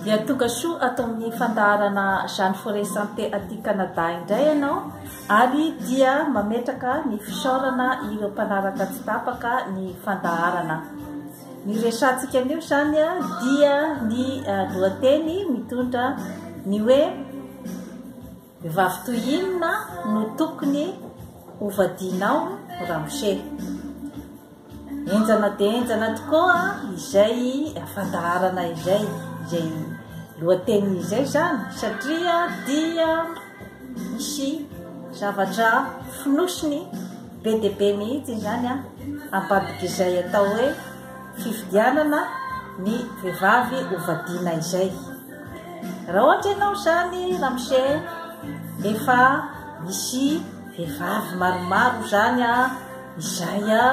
Dia tonga soa ato amin'ny fandaharana Jeanne Forêt Santé aty Canada indray ianao ary dia mametraka ny fisaorana ireo mpanaraka tsy tapaka ny fandaharana. Ny resantsika anio izany dia ny eh, lohateny mitondra ny hoe Vehivavy toy inona no tokony ho vadianao ramose? Enjana dia enjana tokoa izay fandaharana izay, izay lohateniny izay izany satria dia misy zavatra fonosiny be dia be mihitsy izany an ambadik'izay atao hoe fifidianana ny vehivavy hovadiana izay. Raha ohatra ianao izany ramose efa misy vehivavy maromaro izany a, izay a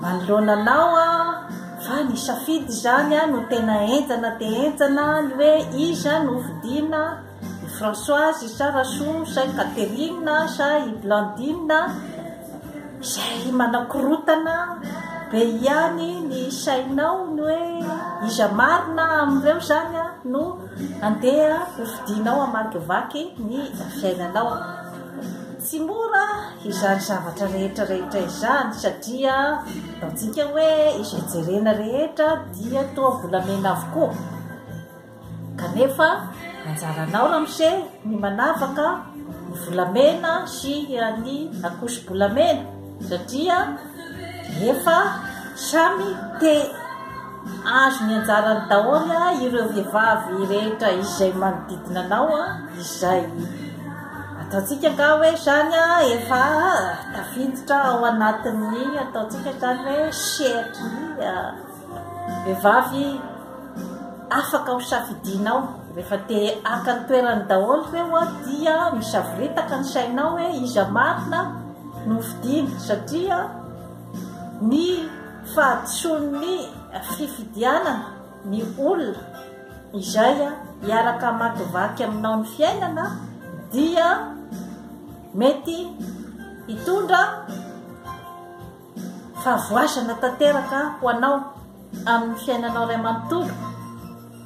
manoloana anao a, fa ny safidy izany a no tena enjana dia enjana ny hoe iza no hofidiana, i Françoise sa Rasoa sa i Catherine sa i Blandine. Izay manakorotana be ihany ny sainao ny hoe iza marina amin'ireo izany no handeha ho fidinao hamakivaky ny fiainanao. Tsy mora izany zavatra rehetra rehetra izany satria ataontsika hoe izay jerena rehetra dia toa volamena avokoa. Kanefa anjaranao ramose ny manavaka ny volamena sy an'i Akosobolamena satria efa samy te azo ny anjarany daholo ireo vehivavy rehetra izay manodidina anao izay ataontsika angaha hoe izany efa tafiditra ao anatin'ny ataontsika izany hoe sehatry ny Vehivavy afaka ho safidianao, rehefa te haka ny toerany daholo ireo dia misavoritaka ny sainao hoe iza marina no fidiana satria ny fahadisoan'ny fifidianana ny olona izay hiaraka hamakivaky aminao ny fiainana dia mety hitondra fa voazana tanteraka ho anao amin'ny fiainanao ray manontolo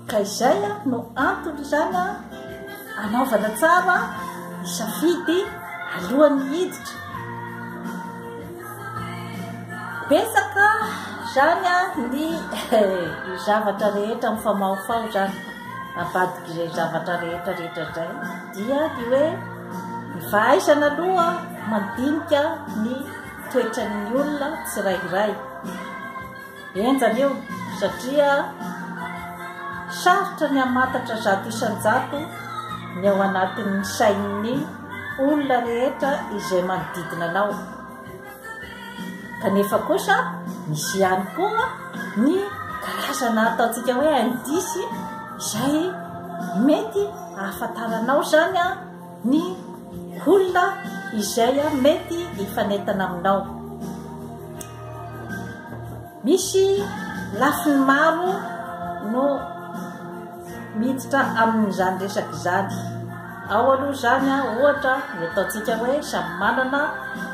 ka izay no antony izany anaovana tsara isafidy alohan'ny hiditra betsaka zany a ny zavatra rehetra mifamaofao zany abadik'izay zavatra rehetra rehetra zay dia ny hoe ny fahaizana aloha mandinika ny toetra ny olona tsirairay enjana io satria sarotra ny hamantatra zato isan-jato ny ao anatin'ny sain'ny olona rehetra izay manodidina anao kanefa kosa misy ihany koa ny karazana ataontsika hoe indisy izay mety hahafantaranao zany a ny olona izay mety hifanentana aminao. Misy lafiny maro no miditra amin'izany resaka izany. Ao aloha izany ohatra ny ataontsika hoe samy manana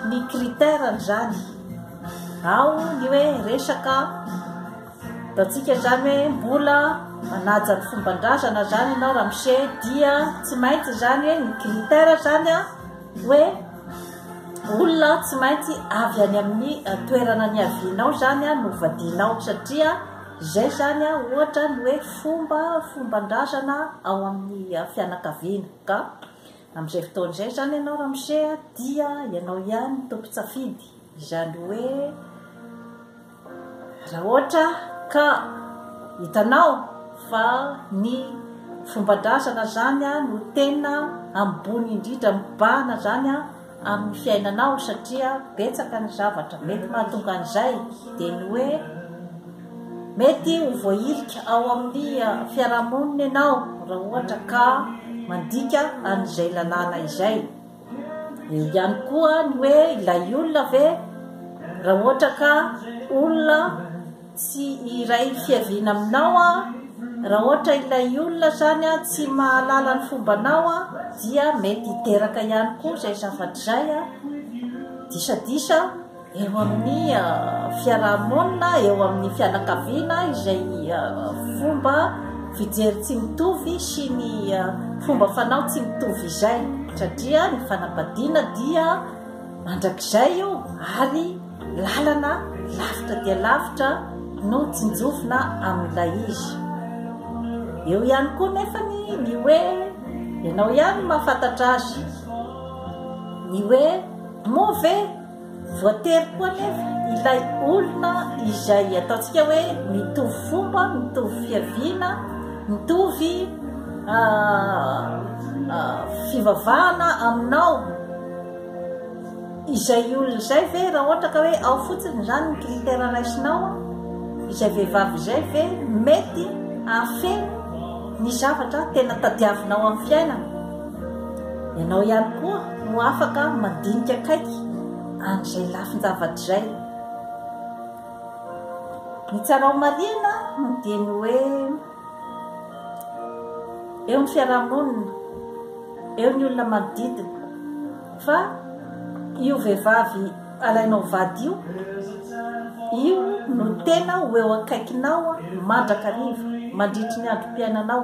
ny critère-ny izany. Ao ny hoe resaka Hitantsika izany hoe mbola manaja ny fomban-drazana izany ianao Ramose dia tsy maintsy izany hoe ny critère izany a hoe olona tsy maintsy avy any amin'ny toerana ny avianao izany a no vadianao satria izay izany a ohatra ny hoe fomba fomban-drazana ao amin'ny fianakaviana ka amin'izay fotoana izay izany ianao Ramose dia ianao ihany no tompon-tsafidy. Izany hoe raha ohatra ka hitanao fa ny fomban-drazana zany no tena ambony indrindra mibahana zany amin'ny fiainanao satria betsaka ny zavatra mety mahatonga an'izay dia ny hoe mety ho voahilika ao amin'ny fiarahamonina ianao raha ohatra ka mandika an'izay lalàna izay. Eo ihany koa ny hoe ilay olona ve raha ohatra ka olona tsy iray fiaviana aminao a raha ohatra ilay olona zany a tsy mahalala ny fombanao a dia mety hiteraka ihany koa izay zavatra izay a disadisa eo amin'ny fiarahamonina, eo amin'ny fianakaviana izay fomba fijery tsy mitovy sy ny fomba fanao tsy mitovy izay satria ny fanambadiana dia mandrakizay io ary lalana lavitra dia lavitra no tsinjovina amin'ilay izy eo ihany koa nefa ny ny hoe ianao ihany mahafantatra azy ny hoe move Voatery koa anefa ilay olona izay ataontsika hoe mitovy fomba, mitovy fiaviana, mitovy fivavahana aminao. Izay olona izay ve raha ohatra ka hoe ao fotsiny izany ny critère raisinao, izay vehivavy izay ve mety hahafeno ny zavatra tena tadiavinao amin'ny fiainana? Ianao ihany koa no afaka mandinika akaiky an'izay lafin-javatra izay. Ny tsara homarihina dia ny hoe eo ny fiarahamonina, eo ny olona manodidina, fa io vehivavy alainao vady io, io no tena ho eo akaikinao mandrakariva, mandritry ny androm-piainanao.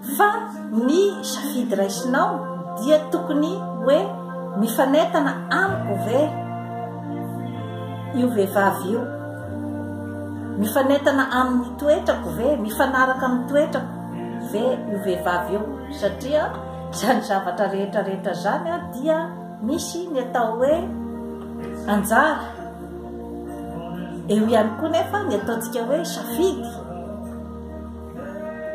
Fa ny safidy raisinao dia tokony hoe mifanentana amiko ve io vehivavy io? Mifanentana amin'ny toetrako ve? Mifanaraka amin'ny toetrako ve io vehivavy io? Satria izany zavatra rehetra rehetra izany dia misy ny atao hoe anjara. Eo ihany koa nefa ny ataontsika hoe safidy.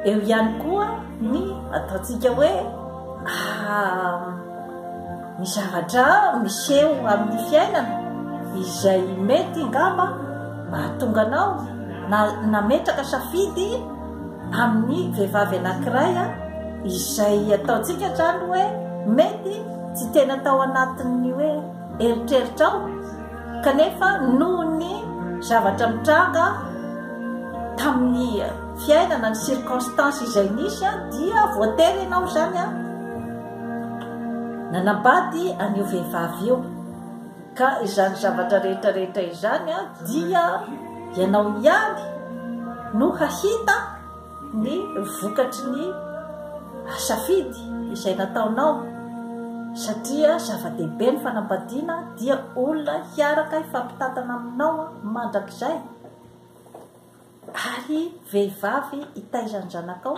Eo ihany koa ny ataontsika hoe ny zavatra miseho amin'ny fiainana izay mety ngamba mahatonga anao na nametraka safidy amin'ny vehivavy anankiray izay ataontsika zany hoe mety tsy tena tao anatin'ny hoe eritreritrao kanefa noho ny zavatra mitranga tamin'ny fiainana ny circonstance izay nisy a dia voatery ianao izany a nanambady an'io vehivavy io ka izany zavatra rehetra rehetra izany a dia ianao ihany no hahita ny vokatry ny safidy izay nataonao satria zava-dehibe ny fanambadiana dia olona hiaraka hifampitantana aminao mandrakizay ary vehivavy hitaiza ny zanakao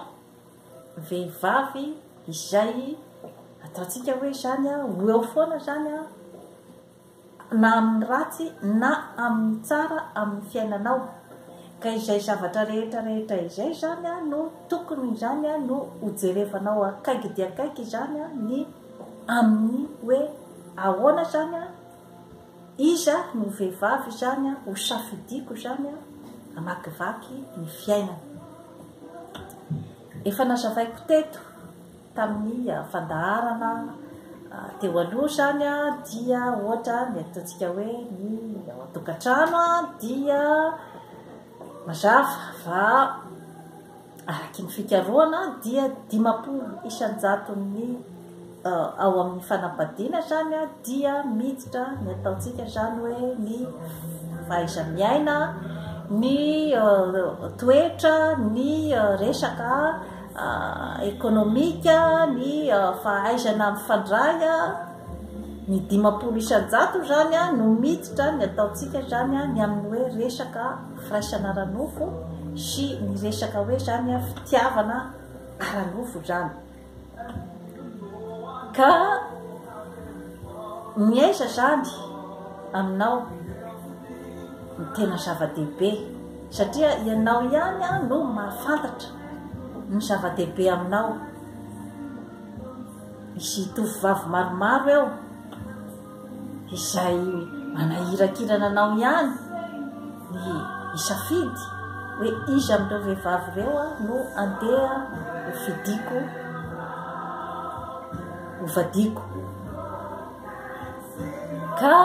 vehivavy izay ataontsika hoe izany ho eo foana izany na amin'ny ratsy na amin'ny tsara amin'ny fiainanao, ka izay zavatra rehetra rehetra izay izany no tokony izany no hojerevanao akaiky dia akaiky izany ny amin'ny hoe ahoana izany, iza no vehivavy izany ho safidiako izany hamakivaky ny fiainana. Efa nazavaiko teto. Tamin'ny fandaharana teo aloha izany dia ohatra ny ataontsika hoe ny ao an-tokantrano dia mazava fa araky ny fikarohana dia dimampolo isan-jaton'ny ao amin'ny fanambadiana izany dia miditra ny ataontsika izany hoe ny fahaiza-miaina, ny toetra, ny resaka ekonomika, ny fahaizana mifandray, ny dimampolo isan-jato izany no miditra ny ataontsika izany ny amin'ny hoe resaka firaisana ara-nofo sy ny resaka hoe izany fitiavana ara-nofo izany. Ka ny aiza izany aminao ny tena zava-dehibe? Satria ianao ihany no mahafantatra ny zava-dehibe aminao. Misy tovovavy maromaro eo izay manahirakirana anao ihany ny hisafidy hoe iza amin'ireo vehivavy ireo no andeha ho fidiko, ho vadiako. ka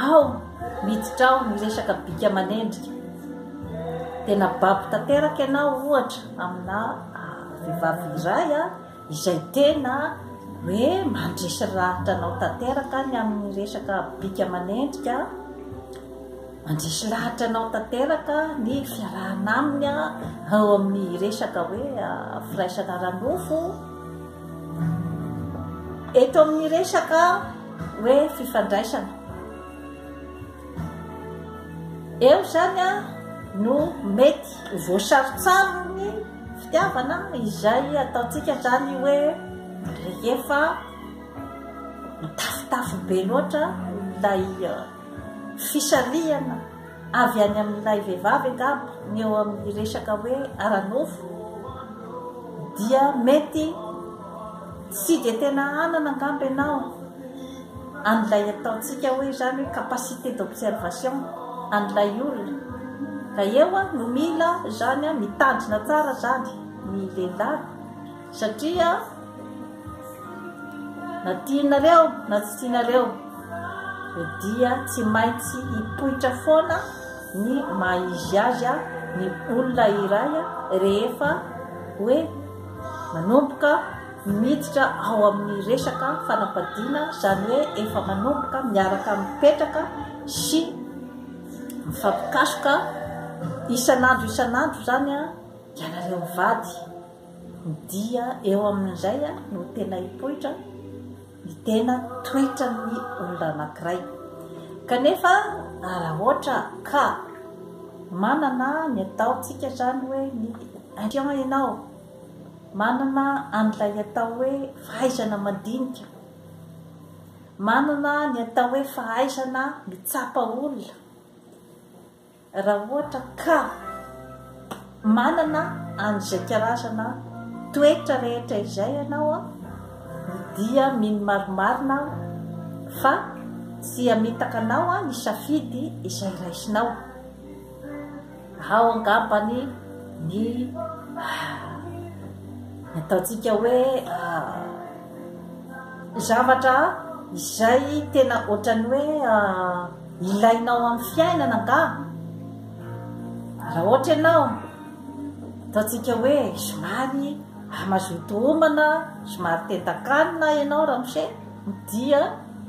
ao miditra ao ny resaka bika manendrika dia nababy tanteraka ianao ohatra amina ah, vehivavy iray a ah, izay tena hoe mandresy lahatra anao tanteraka ny amin'ny resaka bika manendrika Mandresy lahatra anao tanteraka ny fiarahana aminy ao amin'ny resaka hoe firaisana ara-nofo. Eto amin'ny resaka hoe fifandraisana. Eo izany a no mety ho voasarotsarony fitiavana izay ataontsika izany hoe rehefa mitafotafo be loatra ilay Fisarihana avy any amin'ilay vehivavy angamba ny eo amin'ny resaka hoe ara-nofo dia mety tsy dia tena hanana angamba ianao an'ilay ataontsika hoe izany hoe capacité d'observation an'ilay olona ka eo no mila izany mitandrina tsara izany ny lehilahy Satria na tianareo na tsy tianareo dia tsy maintsy hipoitra foana ny maha izy azy ny olona iray rehefa hoe manomboka miditra ao amin'ny resaka fanapadiana izany hoe efa manomboka miaraka mipetraka sy mifampikasoka isan'andro isan'andro izany ianareo mivady Dia eo amin'izay no tena hipoitra ny tena toetran'ny olona anankiray. Kanefa raha ohatra ka manana ny ataontsika izany hoe ny intuition ianao, manana an'ilay atao hoe fahaizana mandinika, manana ny atao hoe fahaizana mitsapa olona, Raha ohatra ka manana an'izay karazana toetra rehetra izay ianao dia mino marimarina aho fa tsy hamitaka anao hisafidy izay raisinao. Ao angambany ny ataontsika hoe zavatra izay tena ohatran'ny hoe ilainao amin'ny fiainana angaha? Raha ohatra ianao, ataontsika hoe somary hamazoto homana, somary tentan-kanina ianao ramose, dia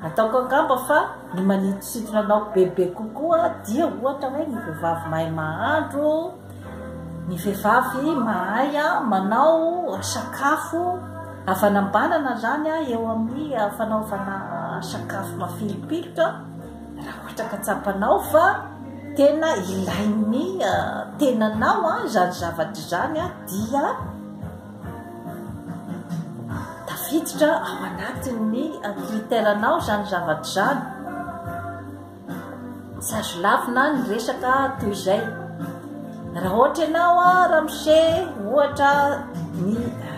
ataoko angamba fa ny manintosintona anao bebe kokoa dia ohatra hoe ny vehivavy mahay mahandro, ny vehivavy mahay manao sakafo havanambanana zany eo amin'ny fanaovana sakafo mafilopiloka. Raha ohatra ka tsapanao fa tena ilain'ny tenanao izany zavatra izany dia tafiditra ao anatin'ny critère-nao izany zavatra izany. Tsy azo lavina ny resaka toy izay. Raha ohatra ianao ramose ohatra ny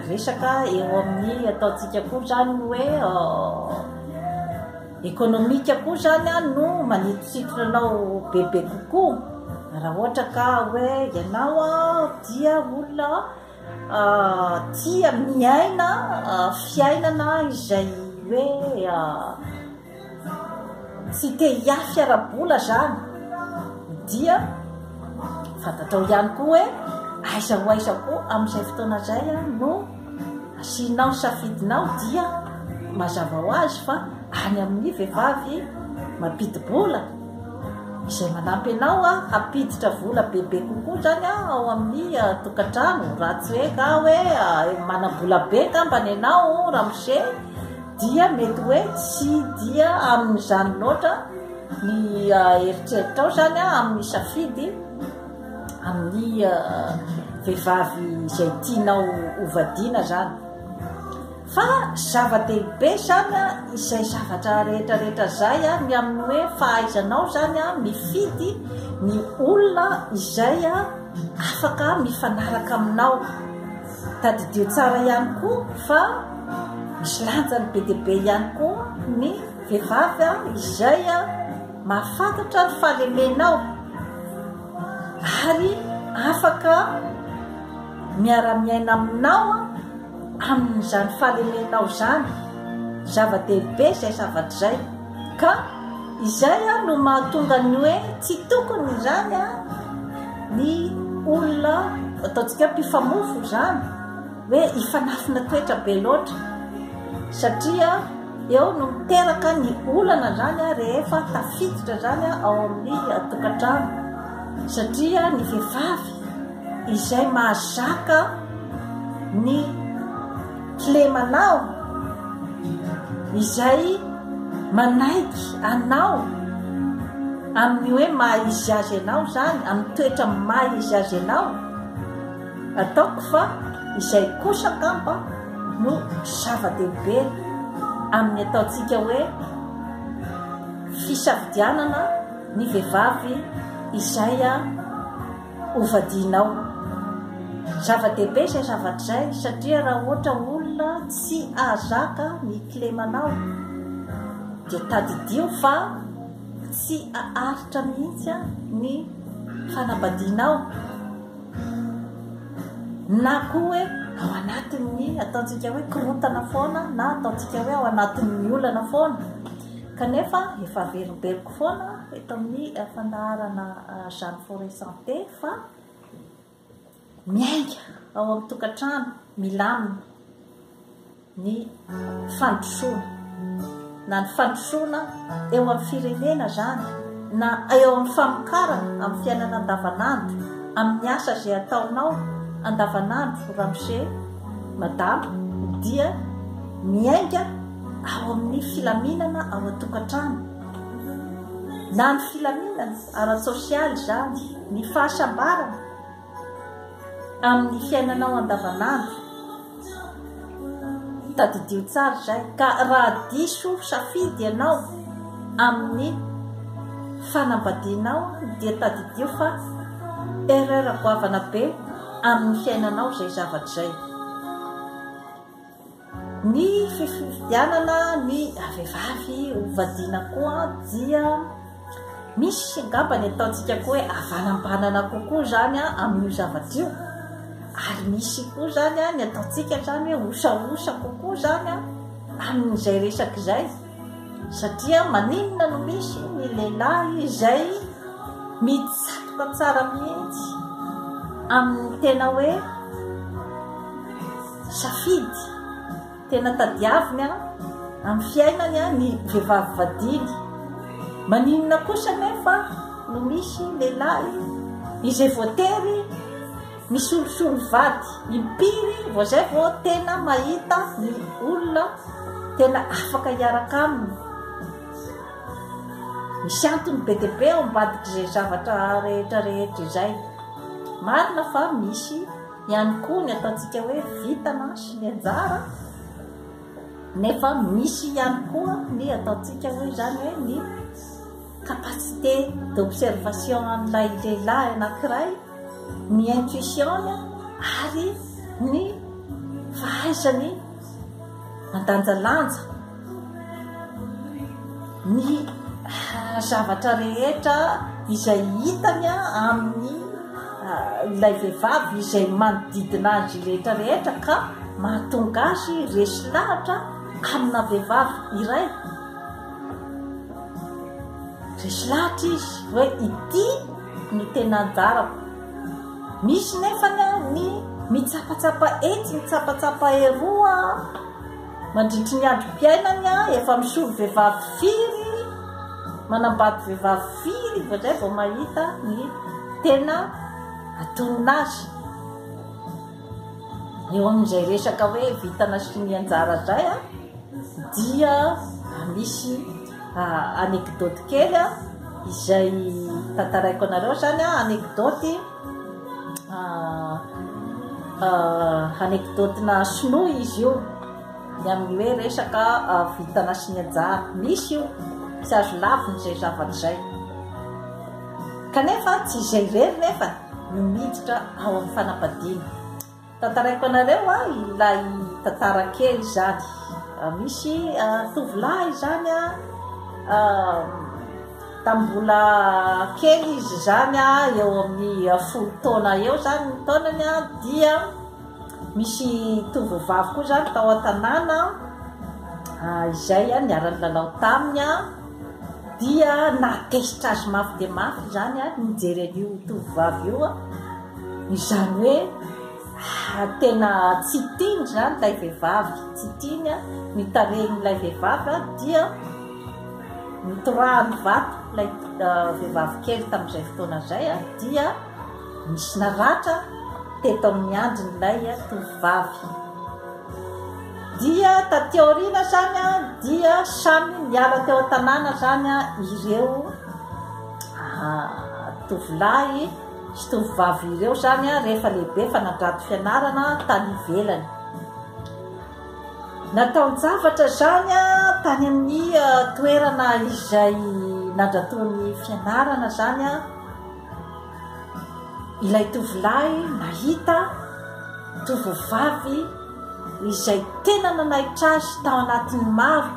resaka eo amin'ny ataontsika koa izany ny hoe Ekonomika koa izany no manintosintona anao bebe kokoa raha ohatra ka hoe ianao dia olona tia miaina fiainana izay hoe tsy te hiafy ara-bola izany dia fantatrao ihany koa hoe aiza ho aiza koa amin'izay fotoana izay no Asianao safidinao dia mazava ho azy fa any amin'ny vehivavy mampidi-bola izay manampy anao hampiditra vola bebe kokoa izany ao amin'ny tokantrano raha tsy hoe ka hoe manam-bola be angambany ianao ramose dia mety hoe tsy dia amin'izany loatra ny eritreritrao izany amin'ny safidy amin'ny vehivavy izay tianao hovadiana zany fa zava-dehibe zany a izay zavatra rehetrarehetra zay a ny amin'ny hoe fahaizanao zany a mifidy ny olona izay a afaka mifanaraka aminao tadidio tsara ihany koa fa misy lanjany be dia be ihany koa ny vehivavy a izay a Mahafantatra ny fahalemenao ary afaka miara-miaina aminao amin'izany fahalemenao izany. Zava-dehibe izay zavatra izay. Ka izay no mahatonga ny hoe tsy tokony izany ny olona ataontsika hoe mpifamofo izany. hoe hifanafina toetra be loatra satria eo no miteraka ny olana zany a rehefa tafiditra zany a ao amin'ny tokantrano satria ny vehivavy izay mahazaka ny kilemanao izay manaiky anao amin'ny hoe maha izy azy anao zany amin'ny toetra maha izy azy anao Ataoko fa izay kosa angamba no zava-dehibe amin'ny ataontsika hoe fisafidianana ny vehivavy izay hovadianao. Zava-dehibe izay zavatra izay satria raha ohatra olona tsy ahazaka ny kilemanao dia tadidio fa tsy aharitra mihitsy ny fanambadianao. na koa hoe ao anatin'ny ataontsika hoe korontana foana na ataontsika hoe ao anatin'ny olana foana kanefa efa averimberiko foana eto amin'ny fandaharana ah, jeune forêt santé fa miainga ao amin'ny tokantrano milamina ny fandrosoana na ny fandrosoana eo amin'ny firenena izany na eo amin'ny famokarana amin'ny fiainana andavanandro amin'ny asa izay ataonao andavanandro ramose madama dia miainga ao amin'ny filaminana ao an-tokantrano na ny filaminana ara-tsosialy izany ny fahasambarana amin'ny fiainanao andavanandro, tadidio tsara izay, ka raha diso safidy ianao amin'ny fanambadianao dia tadidio fa erreur goavana be amin'ny fiainanao izay zavatra izay. Ny fifidianana ny vehivavy hovadiana koa dia misy angamba ny ataontsika koa hoe havanambanana kokoa izany amin'io zavatra io ary misy koa izany ny ataontsika izany hoe osaosa kokoa izany amin'izay resaka izay satria maninona no misy ny lehilahy izay mitsatoka tsara mihitsy amin'ny tena hoe Safidy tena tadiaviny amin'ny fiainany ny vehivavy vadiany. Maninona kosa anefa no misy lehilahy izay voatery misolosolo vady impiry vao zay vao tena mahita ny olona tena afaka hiaraka aminy? Misy antony be dia be ao ambadik'izay zavatra rehetra rehetra izay. Marina fa misy Ihany koa ny ataontsika hoe vita mantsy ny anjara nefa misy ihany koa ny ataontsika hoe izany hoe ny capacité d'observation an'ilay lehilahy anankiray ny intuition-ny ary ny fahaizany mandanjalanja ny zavatra rehetra izay hitany amin'ny ah, ilay vehivavy izay manodidina azy rehetra rehetra ka mahatonga azy resy lahatra amina vehivavy iray resy lahatra izy hoe ity no tena anjarako Misy nefa ny mitsapatsapa etsy mitsapatsapa eroa mandritry ny androm-piainany efa misory vehivavy firy manambady vehivavy firy indraindray vao mahita ny tena atonina azy. Eo amin'izay resaka hoe vintana sy sonia anjara indray a, dia misy anecdote kely a, izay tantaraiko anareo zany a, anecdote anecdote-na sinoa izy io, ny amin'ny hoe resaka vintana sy ny anjara, misy io, tsy azo lavina izay zavatra izay, kanefa tsy izay irery nefa e. no miditra ao amin'ny fanambadiana. Tantaraiko anareo a, ilay tantara kely izany. Misy tovolahy izany a, tamin'ny mbola kely izy izany a, eo amin'ny folo taona eo izany ny taonany a, dia misy tovovavy koa izany tao an-tanàna izay niara-nilalao taminy a. dia nahatezitra azy mafy dia mafy izany ary nijery an'io tovovavy io an izany hoe ah, tena tsy tiany izany ilay vehivavy tsy tiany an ny tarehin'ilay vehivavy an dia mitorahany vato ilay ah, vehivavy kely tamin'izay fotoana izay an dia Nisy naratra teto amin'ny andrin'ilay tovovavy. Dia taty aoriana izany dia samy niala teo an-tanàna izany ireo ah, tovolahy sy tovovavy ireo izany rehefa lehibe fa nandrato fianarana tany ivelany. Nataon-javatra izany tany amin'ny ah, toerana izay nandratoan'ny fianarana izany ilay tovolahy nahita tovovavy izay tena nanaitra azy tao anatin'ny maro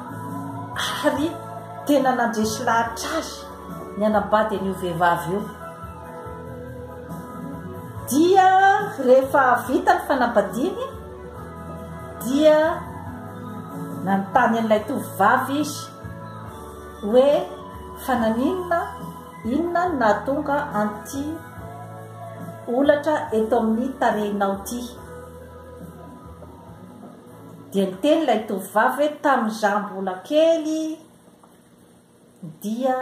ary tena nandresy lahatra azy ny anabady an'io vehivavy io dia rehefa vita ny fanabadiany dia nanontany an'ilay tovovavy izy hoe fananinona Inona no nahatonga an'ity holatra eto amin'ny tarehinao ity? Dia niteny ilay tovovavy hoe, Tamin'izaho mbola kely dia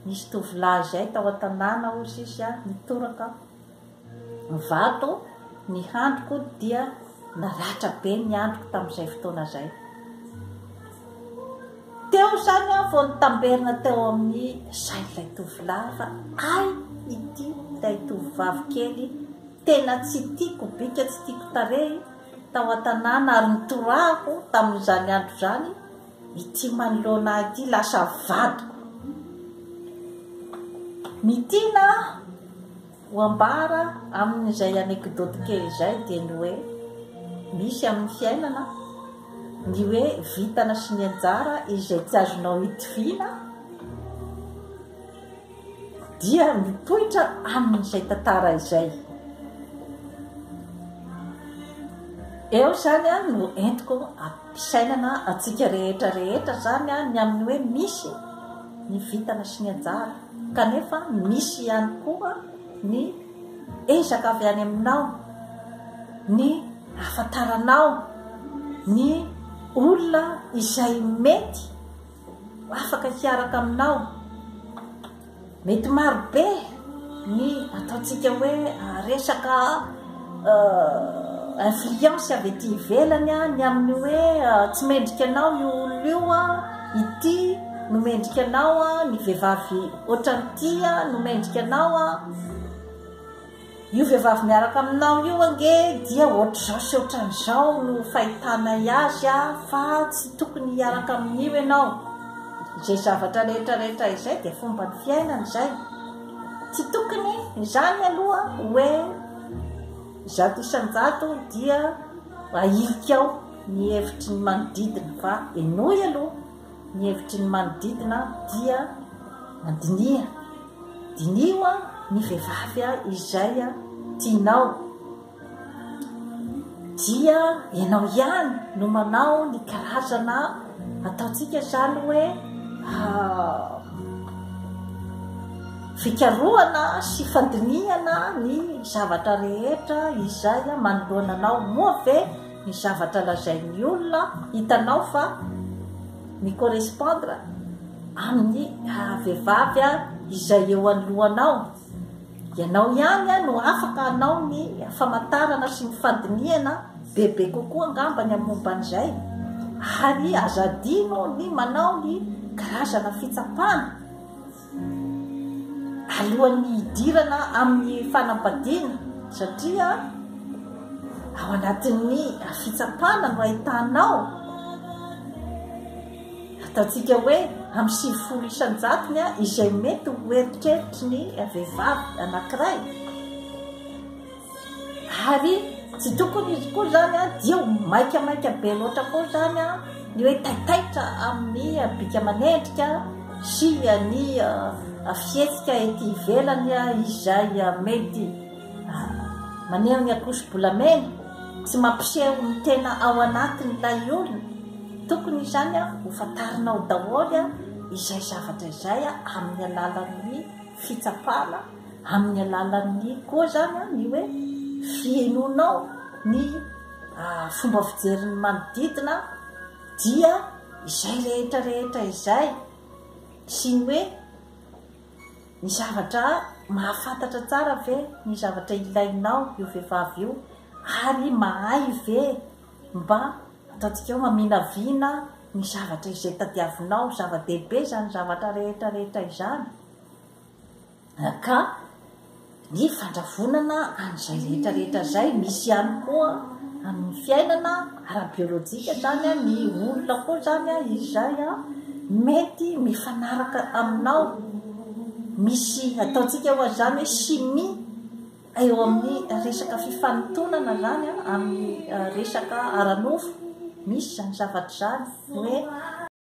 nisy tovolahy izay tao an-tanàna, hoy izy, nitoraka. Ny vato, ny handriko dia naratra be ny handriko tamin'izay fotoana izay. Teo izany aho vao nitamberina teo amin'ny sain'ilay tovolahy fa ay ity ilay tovovavy kely tena tsy tiako bika tsy tiako tarehy tao an-tanàna ary nitorahako tamin'izany andro izany ity manoloana ahy ity lasa vadiko. Ny tiana Ho ambara amin'izay anekdoty kely izay dia ny hoe, misy amin'ny fiainana ny hoe vintana sy ny anjara izay tsy azonao itoviana dia mipoitra amin'izay tantara izay. Eo izany no entiko ampisainana antsika rehetra rehetra izany ny amin'ny hoe misy ny vintana sy ny anjara. Kanefa misy ihany koa ny ezaka avy any aminao, ny ahafantaranao ny olona izay mety afaka hiaraka aminao. Mety marobe ny ataontsika hoe resaka. influence avy ety ivelany ny amin'ny hoe tsy mendrika anao io olona io ity no mendrika anao ny vehivavy ohatran'ity no mendrika anao io vehivavy miaraka aminao io ange dia ohatr'izao sy ohatran'izao no fahitanay azy a fa tsy tokony hiaraka amin'io ianao izay zavatra rehetrarehetra izay dia fomba ny fiainana izay Tsy tokony izany aloha hoe zato isan-jato dia ahilika ao ny hevitry ny manodidina fa henoy aloha ny hevitry ny manodidina dia mandiniha. Diniho ny vehivavy izay tianao. dia ianao ihany no manao ny karazana ataontsika zany hoe ah, fikarohana sy fandinihana ny zavatra rehetra izay manoloana anao moa ve ny zavatra lazain'ny olona hitanao fa mi correspondre amin'ny ah, vehivavy izay eo anoloanao Ianao ihany no afaka hanao ny famantarana sy ny fandinihana bebe kokoa angamba ny momba an'izay, ary aza adino ny manao ny karazana fitsapana alohan'ny hidirana amin'ny fanambadiana, satria ao anatin'ny fitsapana no ahitanao. Ataontsika hoe amin'ny sivifolo isan-jatony izay mety ho eritreritry ny vehivavy anankiray. Ary tsy tokony izy koa izany dia ho maikamaika be loatra koa izany ny hoe taitaitra amin'ny bika aman'endrika sy ny fihetsika ety ivelany izay mety Maneho ny ankoso-bolamena, tsy mampiseho ny tena ao anatin'ilay olona. Tokony izany ho fantarinao daholo izay zavatra izay amin'ny alalan'ny fitsapana, amin'ny alalan'ny koa izany ny hoe fihenoanao ny fomba fijerin'ny manodidina dia izay rehetra rehetra izay sy ny hoe Ny zavatra mahafantatra tsara ve ny zavatra ilainao io vehivavy io ary mahay ve mba ataontsika hoe maminavina ny zavatra izay tadiavinao, zava-dehibe izany zavatra rehetra rehetra izany ka Ny fandravonana an'izay rehetra rehetra izay, misy ihany koa amin'ny fiainana ara-biolojika izany, ny olona koa izany izay mety mifanaraka aminao, misy ataontsika ho an'izany hoe chimie eo amin'ny resaka fifanotonana izany amin'ny resaka ara-nofo, misy izany zavatra izany hoe.